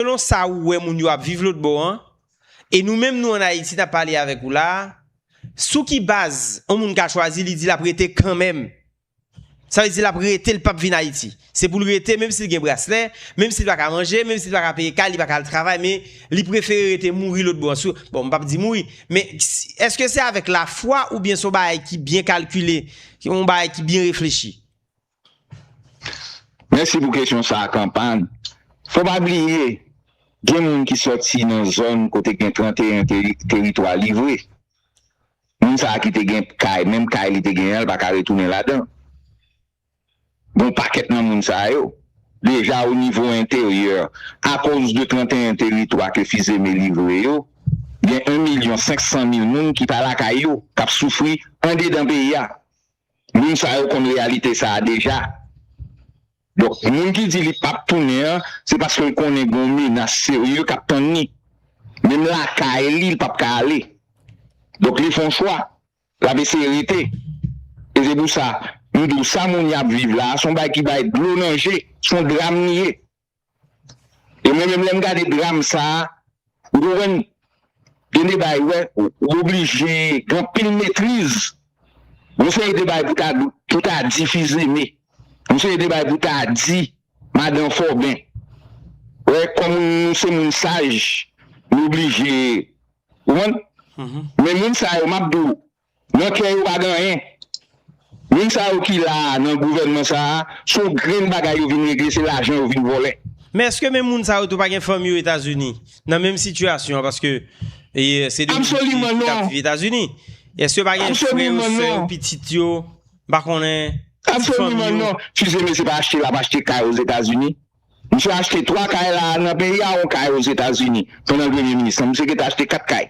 Selon sa ou wè moun yo ap viv lotbò an, e nou menm nou an Ayiti n ap pale avèk ou la a, sou ki baz on moun ka chwazi li di l ap rete kanmenm? Sa vle di l ap rete l p ap vin Ayiti. Se pou l rete menm si l gen braslè, menm si l pa ka manje, menm si l pa ka peye kay, li pa ka al travay men li prefere rete mouri lotbò an. Bon m p ap di mouri men èske se avèk lafwa oubyen se yon bagay ki byen kalkile, yon bagay ki byen reflechi? Mèsi pou kesyon sa a Kanpad. Fò pa bliye, gen moun ki sòti nan zòn kote gen 31 teritwa livre. Moun sa a ki te gen kay, menm kay li te genyen an, li pa ka retounen ladan l. Gen yon pakèt nan moun sa yo, deja o nivo enteryè, akoz de 31 teritwa ke Fils-Aimé livre yo, gen 1 milyon 500 mil moun ki pa lakay yo, k ap soufri andedan peyi a. Moun sa yo konn reyalite sa a deja. Donk, moun ki di li pap tounen an, se paske l konnen gen yon menas serye k ap tann li. Menm lakay li, li pap ka ale. Donk, li fè yon chwa. L ap eseye rete. E se pou sa, m di w, sa moun y ap viv la a, se yon bagay ki bay dlo nan je. Se yon dram li ye. E mwen menm lèm gade dram sa, ou konprann, gen de bay wè, ou oblije gen anpil metriz, yon seri de bay pou ta pou ta di fils aimé, yon seri de bay pou ta di madan Foben. Wè kòm nou se moun saj, nou oblije, ou konprann? Men moun sa yo map di w. Nan kè yo pa gen anyen. Moun sa yo ki la a nan gouvènman sa a, se yon grenn bagay yo vin regle, se lajan yo vin vòlè. Men èske menm moun sa yo tou pa gen fanmi yo Etazini, nan menm sitiyasyon an paske se de moun ki tap viv Etazini? Èske yo pa gen frè yo, sè yo, pitit yo, m pa konnen, ti fanmi yo? Absoliman non. Fils Aimé se pa achte l ap achte kay Ozetazini. Misye achte 3 kay la a nan peyi a, yon kay Ozetazini pandan l Premye Minis lan. Misye gen tan achte 4 kay.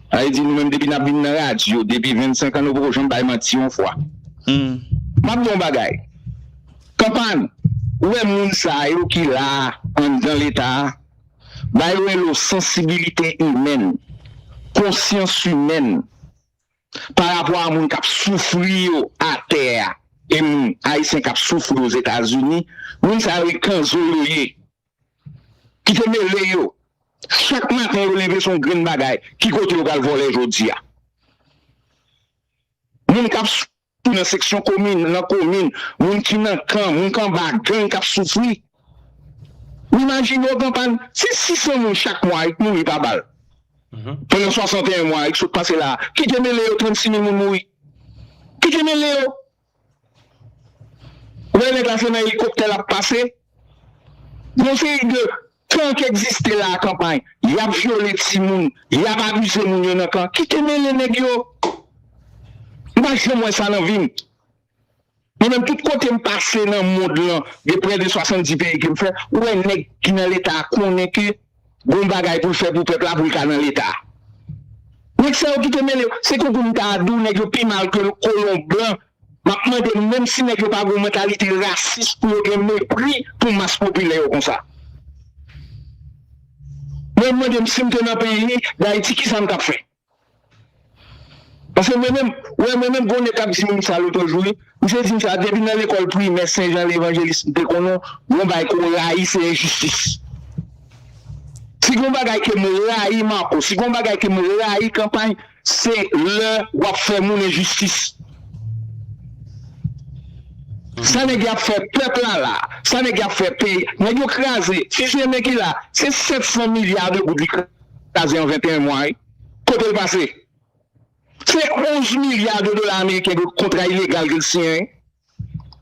Haït di nou menm depi nap vin nan radio depi 25 ans nou poko janm bay manti yon fwa. Map di yon bagay kanpany ou wè moun sa yo ki la anndan leta a ba yo elo sansibilite imèn, konsyans imèn pa rapò a moun kap soufri yo atè a e moun ayisyen kap soufri ozetazini moun sa yo e kanzo yo ye Kite mele yo. Chak maten yo leve son grenn bagay ki kote yo pral vole jodi a. Moun kap soufri nan seksyon komin, nan komin, moun ki nan kan, moun ki anba gang kap soufri. Ou imajine yo pran pal, si 600 moun chak mwa yp mouri pa bal pandan 61 mwa yp sot pase la a, kite mele yo 36 mil moun mouri. Kite mele yo. Ou wè nèg la se nan elikoptè lap pase, yon seri de kan ki egziste la kanpay, yap vyole timoun, yap abize moun yo nan kan, kite mele nèg yo, m pa janm wè sa nan vim, mwen menm tout kotem pase nan mond lan gen prè de 70 peyi kem fè, ou wè nèg ki nan leta konnen ke Gon bagay poul fè pou pèp la poul ka nan leta. Nèg sa yo kite mele yo. Se konkou m ta di w nèg yo pi mal ke kolon blan. Map mande menm si nèg yo pa gon mantalite rasis pou yo gen mepri pou mas popilè yo konsa. Mwen mande m sim te nan peyi Dayiti kisa m tap fè. Paske mwen menm, wè mwen menm gwo nèg kap di moun sa lotre jou wi, misye dim sa depi nan lekòl primè sen jan levanjelis m te konnen gon bagay ke w rayi se enjistis. Si gon bagay ke m rayi Marco, si gon bagay ke m rayi kanpay se lè wap fè moun enjistis. Sa nèg yap fè pèp la la, sa nèg yap fè peyi, nèg yo kraze, fizye men ki la, se 700 milya de goud li kraze. kaze an 21 mwa wi kote l pase se 11 milya de dola ameriken de kontra ilegal ke l siyen wi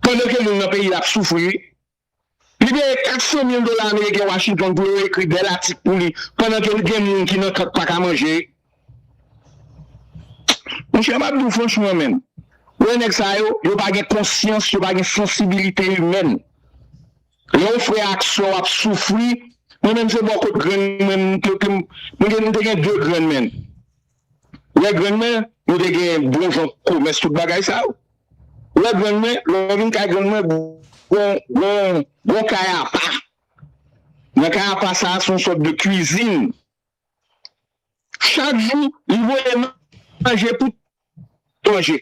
pandan ke moun nan peyi l ap soufri wi li peye 400 mil dola ameriken Washington pou yo ekri bèl atik pou li pandan ke l gen moun ki nan kank pa ka manje wi monchè m ap di w franchman menm wè nèg sa yo yo pa gen konsyans yo pa gen sansibilite imèn. Lè w frè ak sè w ap soufri, mwen menm se bò kot grenn mwen m te te m te gen 2 grenn mè n. Lè grenn mwen yo te gen bon jan komès tout bagay sa yo. Lè grenn mwen, lè m vin kay grenn mwen gon gon gon kay apa. Nan kay apa sa a se yon sòt de kwizin. Chak jou li voye manje pou manje.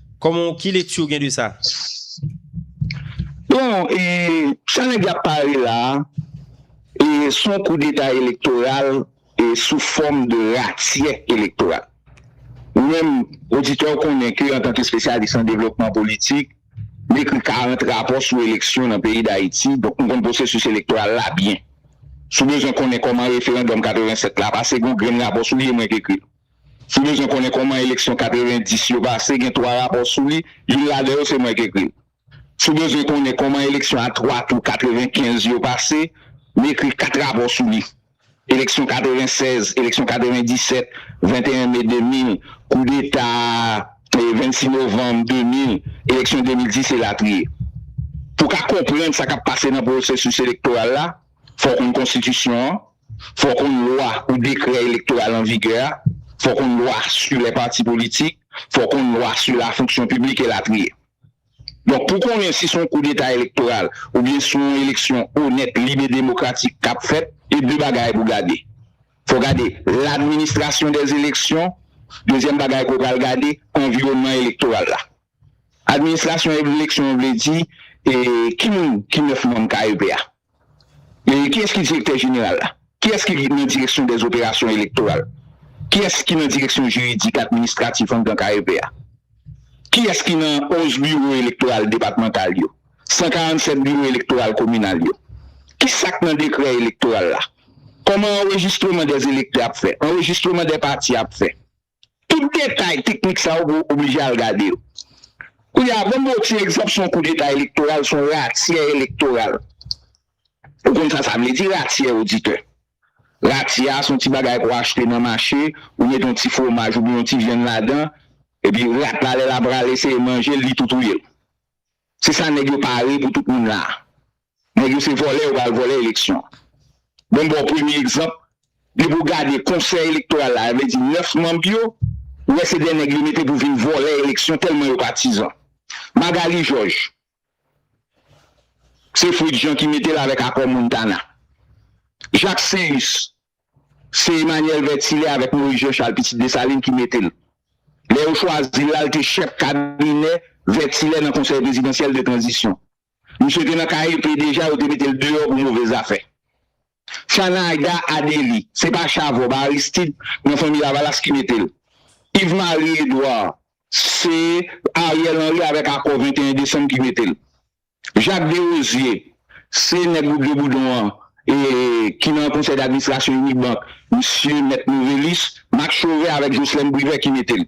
Koman w ki lekti w gen de sa? Bon e sa nèg la ap pale la a e se yon koudeta elektoral e sou fòm de ratyè elektoral. Ou menm oditè w konnen ke antanke espesyalis an devlopman politik, m ekri 40 rapò sou eleksyon nan peyi Dayiti, donk m konn pwosesis elektoral la byen. Si w bezwen konnen kòman referandòm 87 la pase gen yon grenn rapò sou li e mwen k ekri l. Si w bezwen konnen kòman eleksyon 90 yo pase, gen twa rapò sou li, youn ladan yo se mwen k ekri l. Si w bezwen konnen kòman eleksyon a twa tou 95 yo pase, m ekri kat rapò sou li, eleksyon 96, eleksyon 97, 21 me 2000, koudeta 26 novanm 2000, eleksyon 2010 elatriye. Pou w ka konprann sa k ap pase nan pwosesis elektoral la, Fò w konn konstitisyon an, fò w konn lwa ou dekrè elektoral an vigè a, fò w konn lwa su lè pati politik, fò w konn lwa su la fonksyon piblik e latriye. Donk pou konnen si son kou deta elektoral ou byen si yon eleksyon onèt, lib e demokratik k ap fèt, e de bagay pou gade. Fò w gade ladministrasyon dèz eleksyon, dezyèm bagay ke w pral gade anviwònman elektoral la. Administrasyon eleksyon vle di e ki moun ki 9 manm KEP a? Kiyès ki direktè jeneral la? Kiyès ki nan direksyon dè operasyon elektoral? Kiyès ki nan direksyon jiridik administratif anndan KEP a? Kiyès ki nan 11 biwo elektoral depatmantal yo? 147 biwo elektoral kominal yo? Ki sa k nan dekrè elektoral la? Kòman anrejistreman dè elektè ap fè? Anrejistreman dè pati ap fè? Tout detay teknik sa yo ou oblije al gade yo. Kounye a, ban m ba w ti egzanp sou yon koudeta elektoral, sou yon ratyè elektoral. Ou konn sa sa vle di ratyè, oditè? Ratyè a se yon ti bagay ke w achte nan mache, ou mete yon ti fwomaj oubyen yon ti vyann ladan, epi rat la lè l ap rale eseye manje l, li tou touye l. Se sa nèg yo pare pou tout moun la a. Nèg yo se vòlè yo pral vòlè eleksyon an. Bon m ba w premye egzanp, depi w gade konsèy elektoral la, sa vle di 9 manb yo, ou wè se 2 nèg yo mete pou vin vòlè eleksyon tèlman yo patizan. Magalie Georges, se Fritz Jean ki mete l avèk akò Montana. Jacques Céus, se Emmanuel Vertillet avèk Maurice Jean Charles, pitit Dessalines, ki mete l. Lè yo chwazi l la, l te chèf kabinè Vertillet nan konsèy prezidansyèl de tranzisyon. Misye te nan KEP deja yo te metel deyò pou move zafè. Chanaga Adely se pa Chavob Aristid nan fanmi lavalas ki metel. Yves Marie Edouard se Ariel Henry avèk akò 21 desanm ki metel. Jacques Derosier se nèg wout de boudon an e ki nan konsèy d'administrasyon Unibank misye mèt Novelis, Max Chauvet avèk Jocelerme Privert ki metel.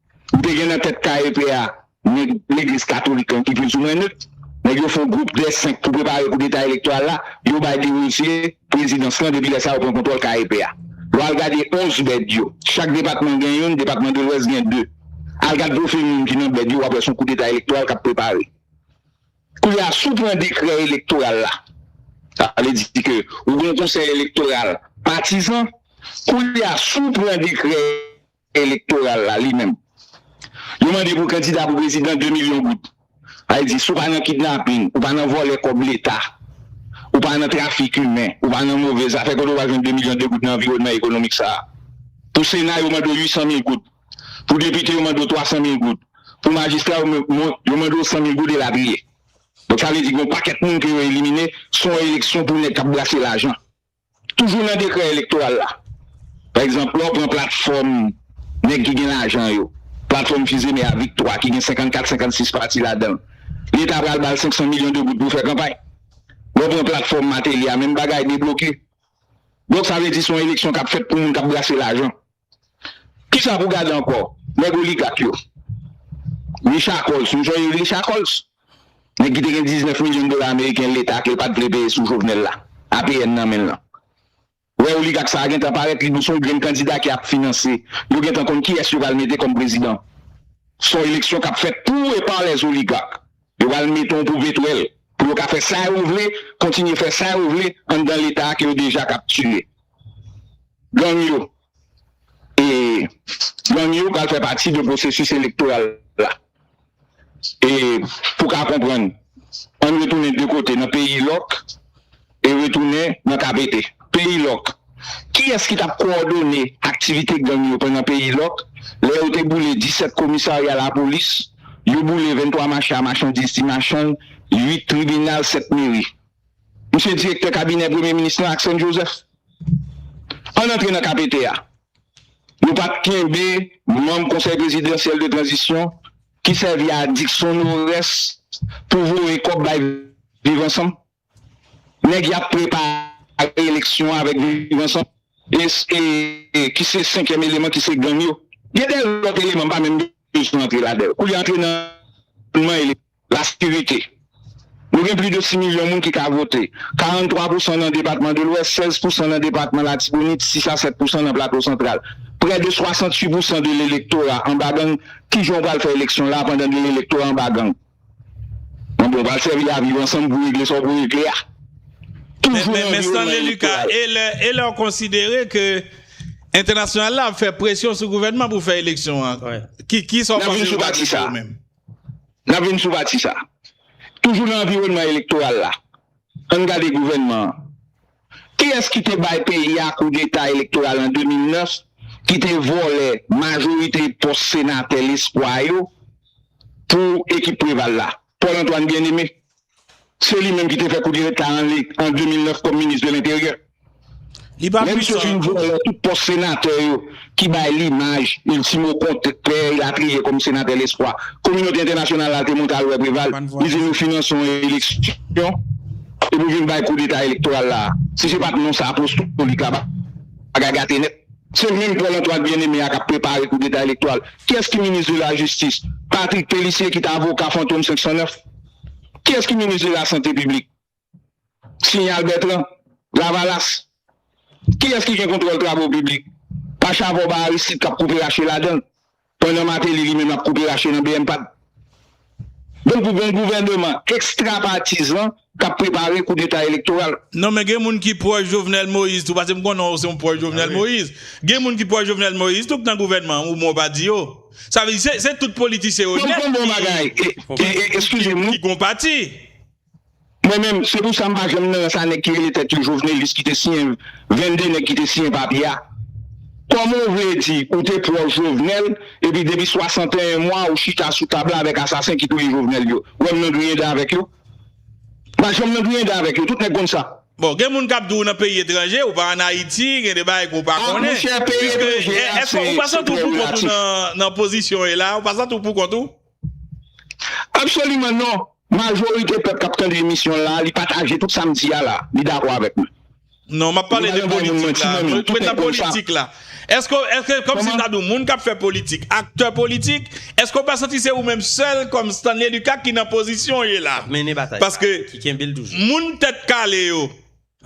Ou te gen nan tèt KEP a nèg legliz katolik lan ki plizoumwen nèt. Nèg yo fon gwoup dè senk pou prepare koudeta elektoral la, yo bay Desrosier prezidans lan depi lè sa yo pran kontwòl KEP a. Lè w al gade 11 bèd yo, chak depatman gen youn, depatman Delwès gen 2. Al gad pwofil moun ki nan bèd yo w ap wè son koudeta elektoral k ap prepare. Koulye a si w pran dekrè elektoral la, sa vle di ke ou gen yon konsèy elektoral patizan, koulye a si w pran dekrè elektoral la li menm. Yo mande pou kandida pou prezidan 2 milyon goud. Sa vle di si w pa nan kidnaping, ou pa nan vòlè kòb leta, ou pa nan trafik imen, ou pa nan move zafè kote w pral jwenn 2 milyon 2 goud nan anviwònman ekonomik sa a. Pou sena yo mande w 800 mil goud. Pou depite yo mande w 300 mil goud. Pou majistra yo yo mande w 100 mil goud elatriye. Donk sa vle di gen yon pakèt moun ke yo elimine, se yon eleksyon pou nèg k ap brase lajan. Toujou nan dekrè elektoral la, pa egzanp, lè w pran platfòm nèg ki gen lajan yo, platfòm Fils-Aimé a, Viktwa ki gen 54, 56 pati ladan l, Leta pral ba l 500 milyon de goud pou fè kanpay. Lè w pran platfòm Martelly a, menm bagay, debloke. Donk sa vle di se yon eleksyon k ap fèt pou moun k ap brase lajan. Kisa pou gade ankò? Nèg oligak yo. Richard Koltz, nou sonje Richard Koltz? Nèg ki te gen 19 milyon dola ameriken leta ke l pat vle peye sou Jovenel la, APN nan men l lan. Ou wè oligak sa a gentan parèt, li son grenn kandida ki ap finanse. Yo gentan konn kiyès yo pral mete kòm prezidan. Son eleksyon k ap fèt pou e pa lèzoligark. Yo pral mete yon poupe twèl pou yo ka fè sa yo vle, kontinye fè sa yo vle anndan leta ke yo deja kaptire. Gang yo e gang yo pral fè pati de pwosesis elektoral la. E pou ka konprann, ann retounen de kote nan peyi lòk. e retounen nan Kapete, peyi lòk. Kiyès ki t ap kowòdone aktivite gang yo pandan peyi lòk, lè yo te boule 17 komisarya lapolis, yo boule 23 mache a machandiz ti machann, 8 tribinal, 7 meri? M se direktè kabinè premye minis lan ak Sèn Jozèf. Ann antre nan Kapete a. Nou pa t kenbe manm konsèy prezidansyèl de tranzisyon ki sèvi a dikson nou rès pou voye kòb bay Viv Ansanm? Nèg yap prepare eleksyon avèk viv ansanm ki se senkyèm eleman ki se gang yo gen de lòt eleman m pa menm bezwen antre ladanl koulye a antre nan eleman eleman la sekirite nou gen pli de 6 milyon moun ki ka vote 43 pousan nan depatman de lwès 16 pousan nan depatman latibonit 6 a 7 pousan nan plato santral prè de 68 pousan de lelektora anba gang kijan w pral fè eleksyon la pandan de lelektora anba gang. Bon bon pral sèvi a viv ansanm pou regle sa w pou regle a. Toujou nan anviwònman elektoral. E lè w konsidere ke entènasyonal la ap fè presyon sou gouvènman pou fè eleksyon an, ki sa w panse yo pral mete yo menm? N ap vin sou pati sa. Toujou nan anviwònman elektoral la, ann gade gouvènman an. Kiyès ki te bay peyi a koudeta elektoral an 2009 ki te vòlè majorite pòs senatè lespwa yo pou ekip Preval la? Paul Antoine Bien-Aimé. Se li menm ki te fè koudeta an 2009 kòm minis de lenteryè. Lè misye fin vòlè tout pòs senatè yo ki bay limaj Ultimo kont Pè Elatriye kòm Senatè Lespwa. Kominote entènasyonal la te monte al wè Preval, li di nou finanse yon eleksyon epi w vin bay koudeta elektoral la a. Si se pa t non sa apostolik la, bagay gate nèt. Se menm Paul Antoine Bien-Aimé a k ap prepare koudeta elektoral. Kiyès ki minis de lajistis? Patrick Pélissier ki te avoka fantom 509? Kiyès ki minis de lasante piblik? Signal Bertrand, Lavalas, Kiyès ki gen kontwòl travo piblik? Pa chavon ba Aristide k ap koupe rache ladan l, pandan Martelly li menm ap koupe rache nan bmpad. Donk pou gen yon gouvèneman ekstrapatizan k ap prepare koudeta elektoral. Non men gen moun ki pwòch Jovenel Moïse tou pase m konnen w se yon pwòch Jovenel Moïse. Gen moun ki pwòch Jovenel Moïse tou k nan gouvènman an ou men w pa di yo. Sa vle di se tout politisyen onèt ki gon pati. Mwen menm, se pou sa m pa janm nan rans a nèg ki rele tèt yo Jovenelis ki te siyen 22 nèg ki te siyen papye a. Kòman ou vle di ou te pwòch Jovenel epi depi 61 mwa ou chita sou tab la avèk asasen ki touye Jovenel yo? Ou wè m nan griyen dan avèk yo? M pa janm nan griyen dan avèk yo, tout nèg konn sa. Bon, gen moun k ap di w nan peyi etranje, ou pa an Ayiti, gen de bagay ke w pa konnen. Ah, mon cher, peyi etranje a se prè relatif. Èske ou pa santi w pou kont ou nan pozisyon ou ye la a? Ou pa santi w pou kont ou? Absoliman non, majorite pèp kap tande emisyon la li pataje tout sam di a la, li dakò avèk mwen. Non map pale de politik la, mwen nan politik la Eske eske kòm si ta di w moun kap fè politik, aktè politik Eske w pa santi se ou menm sèl kòm Stanley Lucas ki nan pozisyon w ye la Kap mennen batay sa, ki kenbe l toujou Paske moun tèt kale yo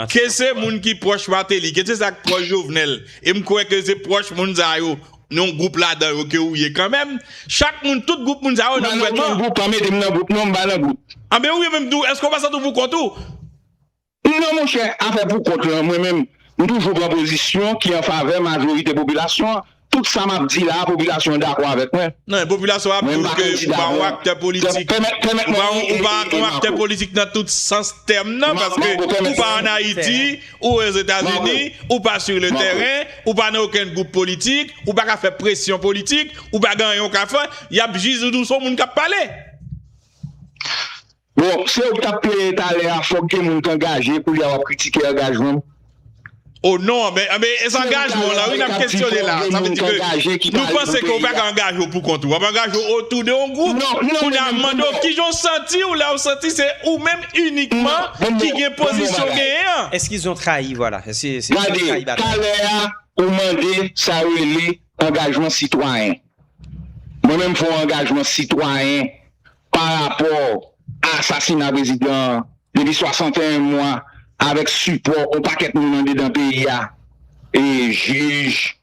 Ke se moun ki pwòch Martelly, ke se sa k pwòch Jovenel, e m kwè ke se pwòch moun sa yo, yon gwoup ladan yo ke ou ye kanmenm, chak moun, tout gwoup moun sa yo nan gouvènman an. Mwen nan okenn gwoup, pa mete m nan gwoup non, m pa nan gwoup. Anben ou ye menm tou, èske ou pa santi ou pou kont ou? Non monchè, afè pou kont lan, mwen menm, m toujou pran pozisyon ki an favè majorite popilasyon an. Tout sa map di la a popilasyon an dakò avèk mwen. Non, popilasyon an ap di w ke ou pa yon aktè politik. Ou pa yon aktè politik nan tout sans tèm nan, paske ou pa an Ayiti, ou Ozetazini, ou pa sur le terrain, ou pa nan okenn gwoup politik, ou pa ka fè presyon politik, ou pa gen anyen ou ka fè, yap jije w se w moun kap pale. Bon se ou ki tap plenyen talè a fòk gen moun k angaje koulye a wap kritike angajman m? Oh non men e zangajman w la wi nap kesyone la sa vle di ke nou panse ke ou pa ka angaje w pou kont ou wap angaje w otou de yon gwoup kounya m mande w kijan w santi w lè w santi se ou menm inikman ki gen pozisyon w genyen an. Eske zon trayi vwala eske zon trayi batay. Gade talè a ou mande sa yo rele angajman sitwayen mwen menm m fon angajman sitwayen pa rapò a asasina prezidan an depi 61 mwa avèk sipò yon pakèt moun andedan peyi a, jij,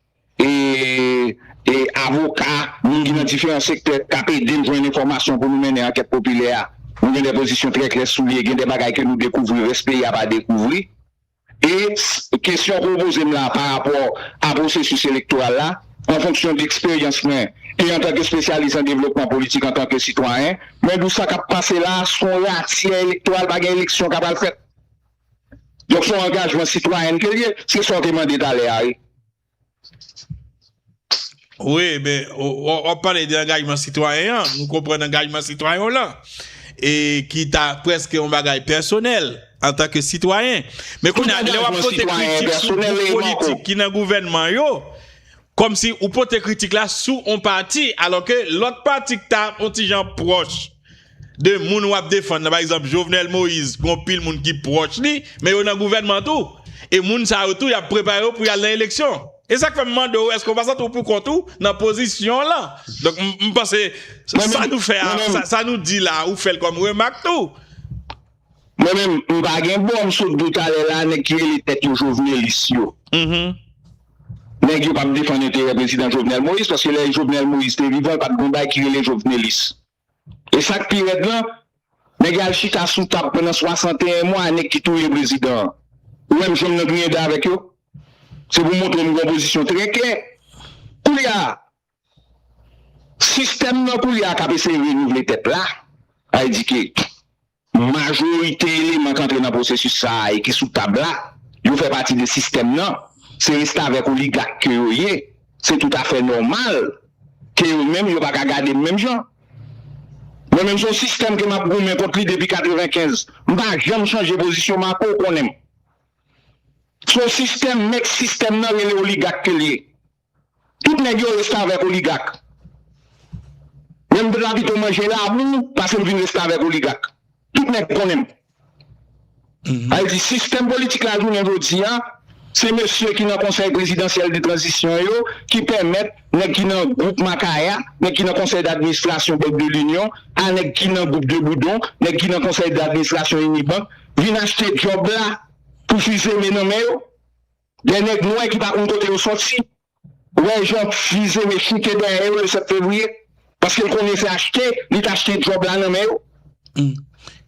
avoka, moun ki nan diferan sektè k ap ede n jwenn enfòmasyon pou nou mennen ankèt popilè a. Nou gen 2 pozisyon trè klè sou li e gen 2 bagay ke nou dekouvri rès peyi a pa dekouvri. E kesyon ke w poze m la pa rapò a pwosesis elektoral la, an fonksyon deksperyans mwen e antanke espesyalis an devlopman politik antanke sitwayen, mwen di w sa k ap pase la a son ratyè elektoral, pa gen eleksyon ka pral fèt. Donk son angajman sitwayènte li ye, se sa w te mande talè a wi. Wi, men, wap pale de angajman sitwayen an, nou konprann angajman sitwayen w lan, e ki ta preske yon bagay pèsonèl, antanke sitwayen. Men kounye a, lè wap pote kritik sou gwoup politik ki nan gouvènman yo, kòmsi ou pote kritik la sou yon pati, alò ke lòt pati ki ta yon ti jan pwòch. de moun wap defann nan pa egzanp Jovenel Moïse gon pil moun ki pwòch li men yo nan gouvènman tou e moun sa yo tou yap prepare yo pou yal nan eleksyon e sak fèm mande w èske w pa santi w pou kont ou nan pozisyon lan donk m panse sa nou fè a sa nou di la ou fèl kòm remak tou. Mwen menm m pa gen bò m sot dou talè la nèg ki rele tèt yo jovenelis yo nèg yo pap defann enterè prezidan Jovenel Moïse paske lè Jovenel Moïse te vivan pat gon bagay ki rele jovenelis e sak pi rèd lan nèg yo al chita sou tab pandan 61 mwa a nèg ki touye prezidan an ou wèm janm nan griyen dan avèk yo se pou montre m gon pozisyon trè klè koulye a Sistèm nan koulye a k ap eseye renouvle tèt la, sa vle di ke majorite eleman k antre nan pwosesis sa a e ki sou tab la, yo fè pati de sistèm nan, se restavèk oligak ke yo ye, se toutafè nòmal ke yo menm yo pa ka gade m menm jan. Mwen menm se yon sistèm ke m ap goumen kont li depi 95, m pa janm chanje pozisyon m akow konnen m. Se yon sistèm, mèt sistèm nan rele oligak ke l ye. Tout nèg yo restavèk oligak. Lèm t la pito manje labou pasem vin restavèk oligak. Tout nèg konnenm. Sa vle di sistèm politik la jounen jodia se mesye ki nan konsèy prezidansyèl de tranzisyon yo ki pèmèt nèg ki nan gwoup makaya, nèg ki nan konsèy dadministrasyon bank de linyon a nèg ki nan gwoup de boudon, nèg ki nan konsèy dadministrasyon inibank vin achte djòb la pou fize men nan men yo. Lè nèg nwè ki pa konn kote yo soti wè jan bgy zele choute dèyè yo le 7 fevriye paske l konnen se achte li t achte djòb la nan men yo.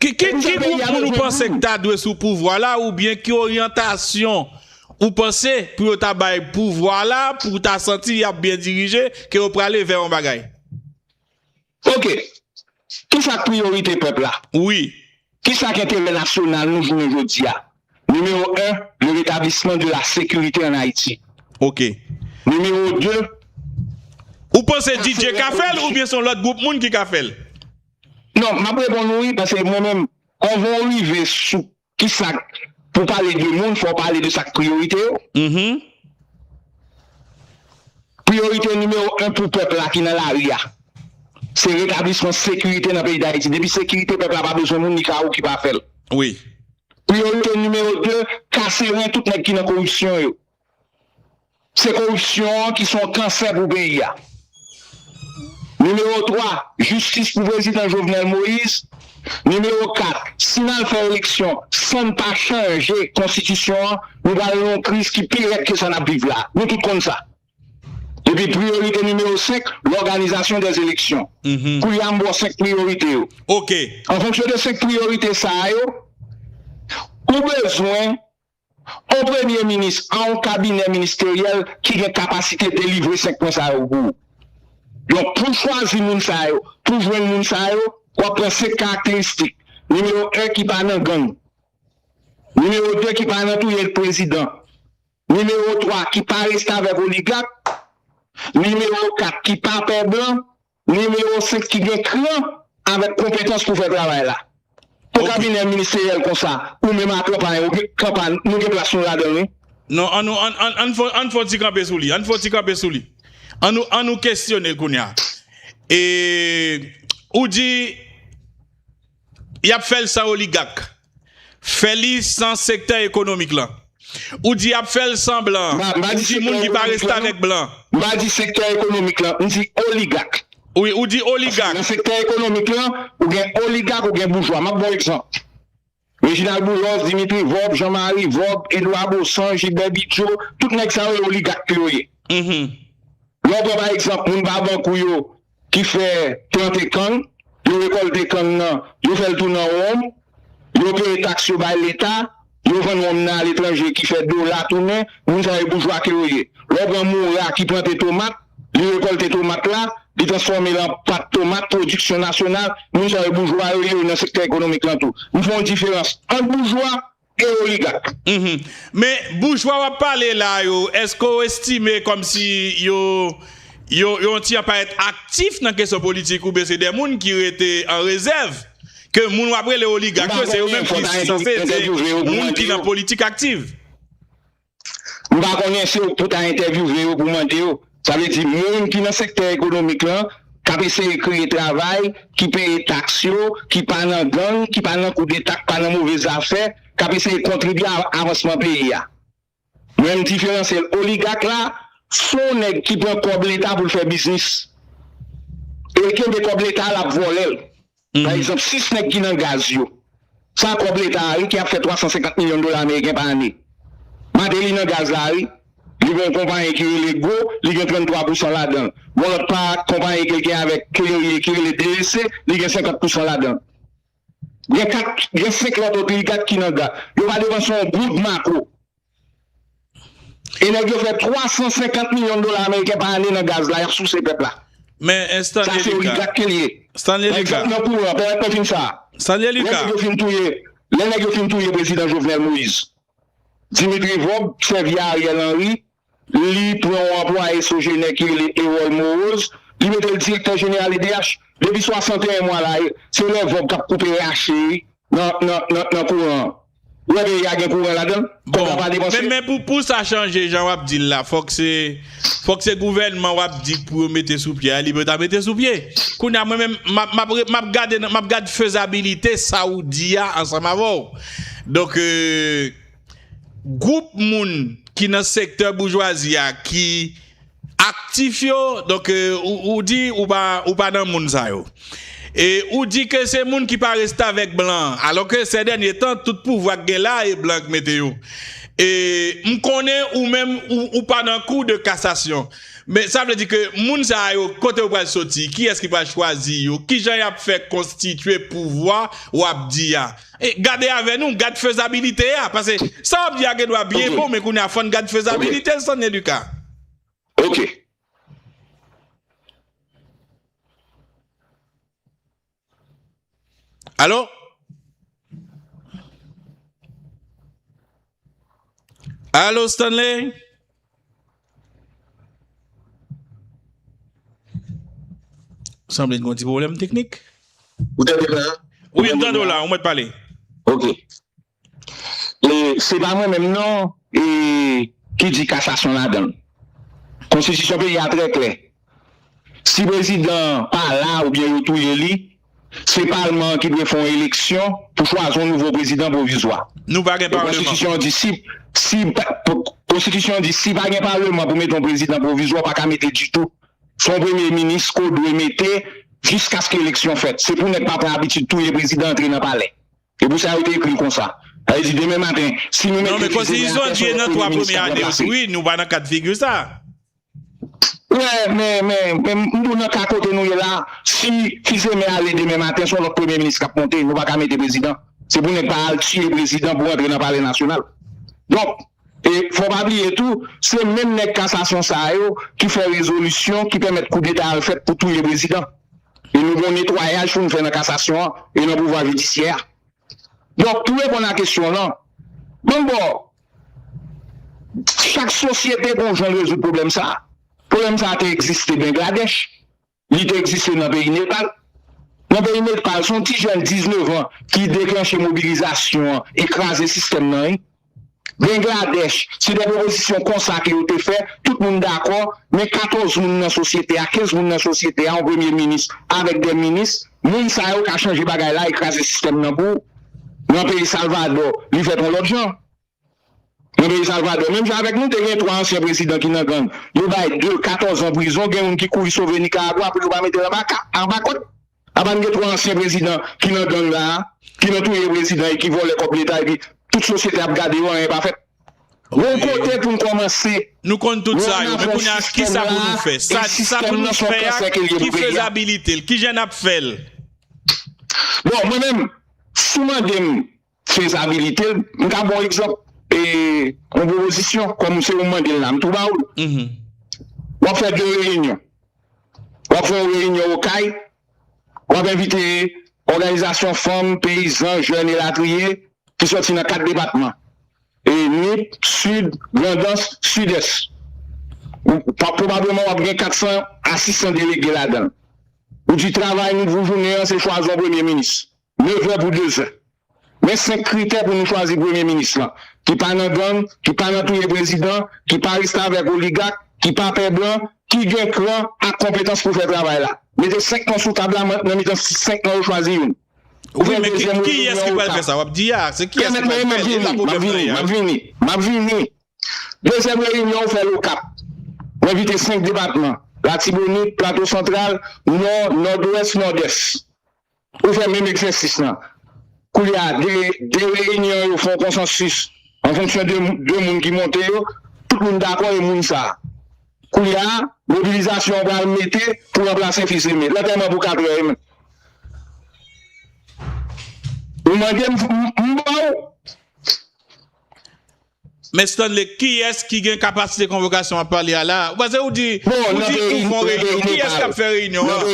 Ki gwoup moun ou panse ki ta dwe sou pouvwa la ou byen ki oryantasyon ou panse pou yo ta bay pouvwa la pou ta santi y ap byen dirije ke yo prale vè yon bagay? Ok. Kisa k priyorite pèp la? Wi. Kisa k enterè nasyonal nou jounen jodi a? Nimewo 1, Le rétablissement de la sécurité en Haïti. Ok. Nimewo 2, Ou panse DJ ka fè l oubyen se yon lòt gwoup moun ki ka fè l? Non, m ap reponn ou wi, paske mwen menm, kòve w rive sou Ki sak pou pale de moun fò pale de sak priyorite yo. Priyorite nimewo 1 pou pèp la ki nan lari a se retablisman sekirite nan peyi Dayiti. Depi sekirite pèp la pa bezwen moun li ka ou ki pa fèl. Priyorite nimewo 2 kase ren tout nèg ki nan koripsyon yo. Se koripsyon an ki se yon kansè pou peyi a. Nimewo 3, Jistis pou prezidan Jovenel Moise. Nimewo 4, Si n al fè eleksyon san n pa chanje konstitisyon an, nou pral nan yon kriz ki pi rèd ke sa n ap viv la a. Nou tout konn sa. Epi priyorite nimewo 5, Lòganizasyon dè eleksyon. Koulye a m ba w 5 priyorite yo. An fonksyon de 5 priyorite sa a yo, ou bezwen On premye minis an on kabinè ministeryèl ki gen kapasite delivre 5 pwen sa yo pou ou. Donk pou chwazi moun sa yo, pou jwenn moun sa yo, w ap pran 5 karakteristik, nimewo 1 ki pa nan gang, nimewo 2 ki pa nan touye prezidan, nimewo 3 ki pa restavèk oligak, nimewo 4 ki pa pè blan, Nimewo 5 ki gen kran avèk konpetans pou fè travay la. Pou kabinè ministeryèl konsa, ou menm ak Kanpay ou gen Kanpay nou gen plas nou ladan l wi. Non an nou an an an an n fon ti kanpe sou li an n fon ti kanpe sou li an nou an nou kesyone l kounya e ou di Yap fèl san oligak. Fè li san sektè ekonomik lan. Ou di yap fèl san blan. Ou di moun ki pa restavèk blan. M pa di sektè ekonomik lan, m di oligak. Wi, ou di oligak. Paske nan sektè ekonomik lan, ou gen oligak, ou gen boujwa. Map ba w egzanp. Reginald Boulos, Dimitri Vorb, Jean Marie Vorb, Edouard Baussan, Gilbert Bidjo, tout nèg sa yo e oligak ke yo ye. Lè w pran pa egzanp moun pa bank ou yo. ki fè plante kann, yo rekòlte kann nan, yo fè l tounen an wonm, yo peye taks yo bay leta, yo vann wonm nan aletranje ki fè dola tounen, moun sa yo boujwa ke yo ye. Lè w pran Moura ki plante tomat, li rekòlte tomat la, li transfòme l an pat tomat, pwodiksyon nasyonal, moun sa yo boujwa yo ye, yo nan sektè ekonomik lan tou. M fè yon diferans ant boujwa E oligak. Men boujwa wap pale la yo eske w estime komsi yo yo yon ti anpayèt aktif nan kesyon politik oubyen se de moun ki rete an rezèv ke moun wap rele oligak yo se yo menm ki sanse se moun ki nan politik aktif? M pa konnen se w pou ta entèvyouve yo pou mande yo, sa vle di moun ki nan sektè ekonomik lan k ap eseye kreye travay, ki peye taks yo, ki pa nan gang, ki pa nan koudeta, ki pa nan move zafè, k ap eseye kontribye a avansman peyi a. Mwen m diferansye l, oligak la s on nèg ki pran kòb leta pou l fè biznis e l kenbe kòb leta a l ap vòlè l. Pa egzanp, 6 nèg ki nan gaz yo, sa kòb leta a wi ki ap fè 350 milyon dola ameriken pa ane. Mateli nan gaz la wi, li gen yon konpayi ki rele Go, li gen 33 pousan ladan l. Gon lòt pa konpayi ke l gen avèk Clery ki rele DEC, li gen 50 pousan ladan l. Gen 4, gen 5 lòt oligak ki nan gaz. Yo pa depanse yon goud mako. E nèg yo fè 350 milyon dola ameriken pa ane nan gaz la yap souse pèp la. Men Stanley Lucas. Sa se oligak ke li ye. Stanley Lucas. Pa egzanp nan kouran, pèmèt mwen fin sa a. Stanley Lucas. Lè nèg yo fin touye, lè nèg yo fin touye prezidan Jovenel Moise, Dimitri Vob sèvi a Ariel Henry, li pran yon anplwaye sojenè ki rele Erol Moroz, li mete l direktè jeneral edh. Depi 61 mwa la, se lè Vob kap koupe rache nan kouran an. Ou wè peyi a gen kouran ladanl? Bon men men pou pou sa chanje jan wap dil la fok se fok se gouvènman wap di pou yo mete sou pye a li pou ta mete sou pye kounye a mwen menm map map map gade nan map gad fezabilite sa ou di a ansanm avèw donk gwoup moun ki nan sektè boujwazi a ki Aktif yo, donk ou di ou pa nan moun sa yo. E ou di ke se moun ki pa restavèk blan, alò ke sè dènye tan tout pouvwa k gen la e blan k mete yo. E m konnen ou menm ou pa nan kou de kasasyon. Men sa vle di ke moun sa yo kote yo pral soti, kiyès ki pral chwazi yo, kijan y ap fè konstitye pouvwa w ap di a. Gade avè nou, gad fezabilite a. Pase sa wap di a gen dwa byen bon men kounye a fòn gad fezabilite l Sandie Lucas. Ok. Allo? Allo Stanley? Sanble gen yon ti pwoblèm teknik. Ou tande m la? Wi, m tande w la, ou mèt pale. Ok. E, se pa mwen menm non e ki di kasasyon ladan l. Konstitisyon peyi a trè klè. Si prezidan an pa la oubyen yo touye li, se palman an ki dwe fè yon eleksyon pou chwazi yon nouvo prezidan pwovizwa. E konstitisyon an di si, si, konstitisyon an di si pa gen palman pou mete yon prezidan pwovizwa ou pa ka mete ditou. Se yon premye minis ke w dwe mete jiskaske eleksyon fèt. Se pou nèg pa pran abitid touye prezidan antre nan palè. E pou sa yo te ekri l konsa. Sa vle di demen maten si nou mete li demen an pèsonn lòt premye minis ka ranplase l. Wè men men men m di w nan ka kote nou ye la si fizeme ale demen maten son lòt premye minis kap monte nou paka mete prezidan se pou nèg pa al tiye prezidan pou rantre nan palè nasyonal donk e fò pa bliye tou se menm nèg kasasyon sa yo ki fè rezolisyon ki pèmèt koudeta al fèt pou touye prezidan e nou gon netwayaj pou nou fè nan kasasyon an e nan pouvwa jidisyè a donk pou reponn a kesyon w lan banm bò Chak sosyete gon jan l rezoud pwoblèm sa a. Pwoblèm sa a te egziste Bengladèch, li te egziste nan peyi Nepal. Nan peyi Nepal, se yon ti jèn 19 an ki deklanche mobilizasyon an e kraze sistèm nan wi. Bengladèch, se de pwopozisyon konsa ke yo te fè, tout moun dakò, men 14 moun nan sosyete a, 15 moun nan sosyete a, yon premye minis avèk 2 minis, moun sa yo ka chanje bagay la e kraze sistèm nan pou Nan peyi Salvadò, li fèt yon lòt jan. Nan peyi Salvadò, menm jan avèk nou, te gen 3 ansyen prezidan ki nan gang. Yo bay 2, 14 an prizon, gen youn ki kouri sove Nikaragwa pou yo pa mete l anba ka, anba kòd. Apa n gen 3 ansyen prezidan ki nan gang la a, ki nan touye prezidan e ki vòlè kòb leta epi tout sosyete ap gade yo, anyen pa fèt. Bon kote pou n kòmanse? Nou konn tout sa yo, men kounye a kisa pou nou fè? Sa pou nou fè a, ki fezabilite l? Kijan n ap fè l? Bon, mwen menm, si w mande m fezabilite l, m ka ba w egzanp, yon pwopozisyon, kòm se ou m mande l la, m tou ba w l. W ap fè de reyinyon. W ap fè yon reyinyon Okay. W ap envite òganizasyon fanm, peyizan, jèn elatriye ki sòti nan 4 depatman, Nip, Sid, Grandans, Sidès. Pwobableman w ap gen 400 a 600 delege ladan l. Ou di travay nou pou jounen an se chwazi yon premye minis. Nevè pou dezen. Men 5 kritè pou nou chwazi premye minis lan, ki pa nan gang, ki pa nan touye prezidan, ki pa restavèk oligak, ki pa pè blan, ki gen kran ak konpetans pou fè travay la. Mete 5 non sou tab la, mwen nan mitan 5 non yo chwazi youn. Ou fè dezyèm referan ou tab. Pèmèt mwen map vini, map vini, map vini, map vini. Dezyèm reyinyon ou fèl Okap. Mwen vite 5 depatman, Latibonit, Plato Santral, Nò, Nòdwès, Nòdès. Yo fè menm egzèsis lan. Koulye a, de reyinyon yo fè yon konsansis an fonksyon de de moun ki monte yo, tout moun dakò e moun sa. Koulye a, mobilizasyon an pral mete pou ranplase Fils Aimé. Lantèman pou katrè e menm. Ou mande m, m ba ou. Men Stanley kiyès ki gen kapasite konvokasyon wap pale a la ou pase ou di ou di ou fon reyinyon kiyès kap fè reyinyon an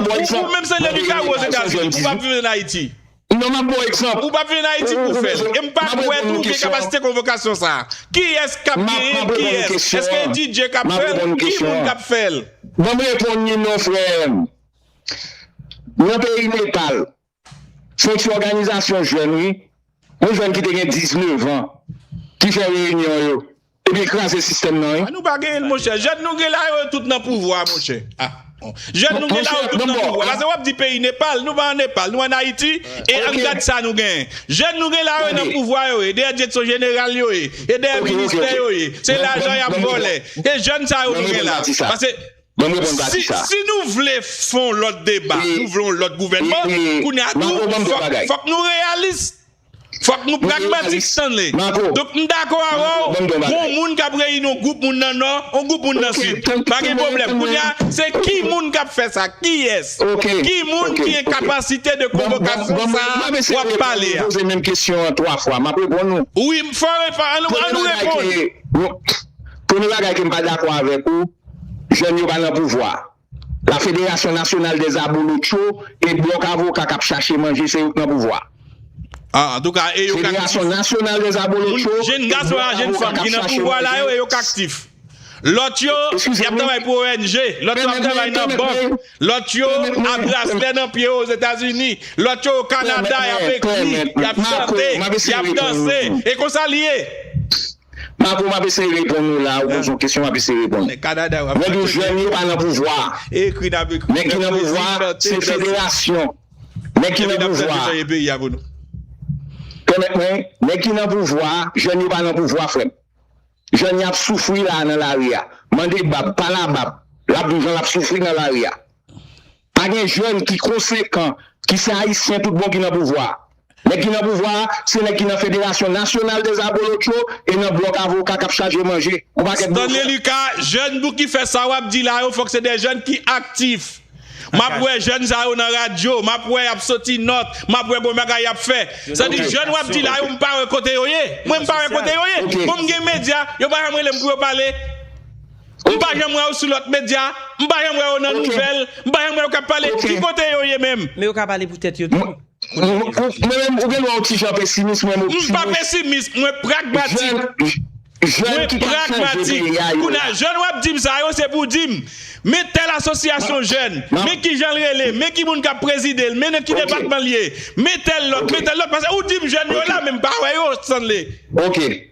ou menm se lè li ka ou ozetazini ou pap viv en ayiti ou pap viv en ayiti pou fèl em pa kwè tou ou gen kapasite konvokasyon sa kiyès kap genyenl kiyès eske DJ kap fèl ki moun kap fèl. Banm reponn li non frèm nan peyi Nepal Son'w ti òganizasyon jèn wi, yon jèn ki te gen 19 an ki fè reyinyon yo ebyen kraze sistèm nan wi. Ah nou pa gen l monchè. Jèn nou gen la yo tout nan pouvwa monchè. Ah bon. Jèn nou gen la yo tout nan pouvwa. Pase wap di peyi Nepal, nou pa an Nepal, nou an Ayiti e ann gad sa nou gen. Jèn nou gen la yo nan pouvwa yo ye, dèyè dyetson jeneral yo ye, e dèyè ministè yo ye. Se lajan yap vòlè. E jèn sa yo nou gen la. Pase. Banm reponn pati sa. Si nou vle fon lòt deba, nou vle yon lòt gouvènman, kounye a tou fòk nou reyalis, fòk nou pragmatik stanley. Donk m dakò avèw gon moun kap reyini yon gwoup moun nan nò, yon gwoup moun nan sid. Pa gen pwoblèm. Kounye a se ki moun kap fè sa? Kiyès? Ki moun ki en kapasite de konvokasyon sa wap pale a? Wi m fò reponn, an nou reponn. Premye bagay ke m pa dakò avèk ou. Jèn yo pa nan pouvwa. La federasyon nasyonal dè abolotcho e blòk avoka kap chache manje se yo k nan pouvwa. Federasyon nasyonal dè abolotcho e blòk avoka kap chache manje. Lòt yo ap travay pou ong, lòt yo ap travay nan bank, lòt yo a braslè nan pye yo ozetazini, lòt yo o kanada yap ekri, yap chante, yap danse. E konsa li ye. Marco map eseye reponn ou la ou poze yon kesyon map eseye reponn ou mwen di w jèn yo pa nan pouvwa nèg ki nan pouvwa se federasyon nèg ki nan pouvwa pèmèt mwen nèg ki nan pouvwa jèn yo pa nan pouvwa frè m jèn y ap soufri la nan lari a mande bab pala bab lap di w jan lap soufri nan lari a. Pa gen jèn ki konsekan ki se ayisyen tout bon ki nan pouvwa. Nèg ki nan pouvwa a, se nèg ki nan Federasyon Nasyonal des Abolotchos e nan blòk avoka kap chaje manje yon pakèt blofè. Stanley Lucas, Jèn pou ki fè sa wap di la yo fòk se de jèn ki aktif. Map wè jèn sa yo nan radyo, map wè yap soti nòt, map wè bon bagay yap fè. Sa di jèn wap di la yo m pa wè kote yo ye. Mwen m pa wè kote yo ye. Bon m gen medya, yo pa janm rele m pou yo pale. M pa janm wè yo sou lòt medya, m pa janm wè yo nan nouvèl, m pa janm wè yo k ap pale. Ki kote yo ye menm? Men yo ka pale pou tèt yo tou. Mwen menm, ou gen lè yon ti jan pesimis, mwen m optimis. M pa pesimis, mwen pragmatik. Jèn ki ka chanje peyi a yo la. Jèn w ap di m sa yo, se pou w di m, men tèl asosyasyon jèn, men ki jan l rele, men ki moun k ap prezide l, men nan ki depatman l ye, men tèl lòt, men tèl lòt. Pase ou di m jèn yo la, men m pa wè yo, Stanley. Ok.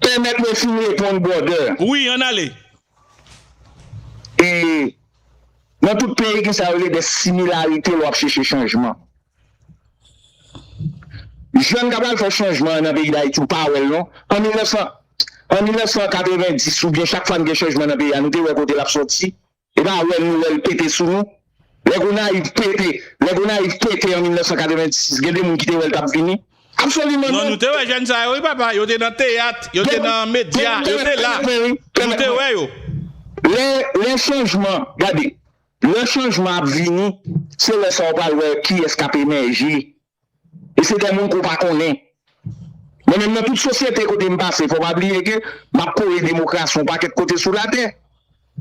Pèmèt mwen fin reponn brother. Wi ann ale. E Nan tout peyi ki sa yo rele des similarités lè w ap cheche chanjman. Jèn k ap al fè chanjman an nan peyi Dayiti ou pa wè l non. An 1900 an 1990 oubyen chak fwa n gen chanjman nan peyi a nou te wè kote l ap soti? E pa wè nou wèl pete sou nou. Lè Gonayiv pete, lè Gonayiv pete an 1986 gen de moun ki te wèl tap vini? Absoliman non. Non nou te wè jèn sa yo wi papa, yo te nan teyat, yo te nan medya, yo te la. Nou te wè yo. Lè, lè chanjman, gade, lè chanjman ap vini, se lè sa ou pral wè kiyès kap emèje E se de moun ke w pa konnen. Men menm nan tout sosyete kote m pase, fò w pa bliye ke m ap kore demokrasi yon pakèt kote sou latè.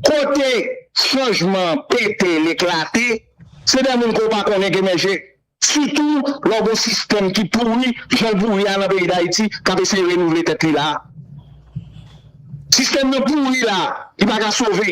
Kote chanjman an pete, l eklate, se de moun ke w pa konnen k emèje. Sitou lè w gen yon sistèm ki pouri jan l pouri a nan peyi Dayiti k ap eseye renouvle tèt li la a. Sistèm nan pouri la a, li pa ka sove.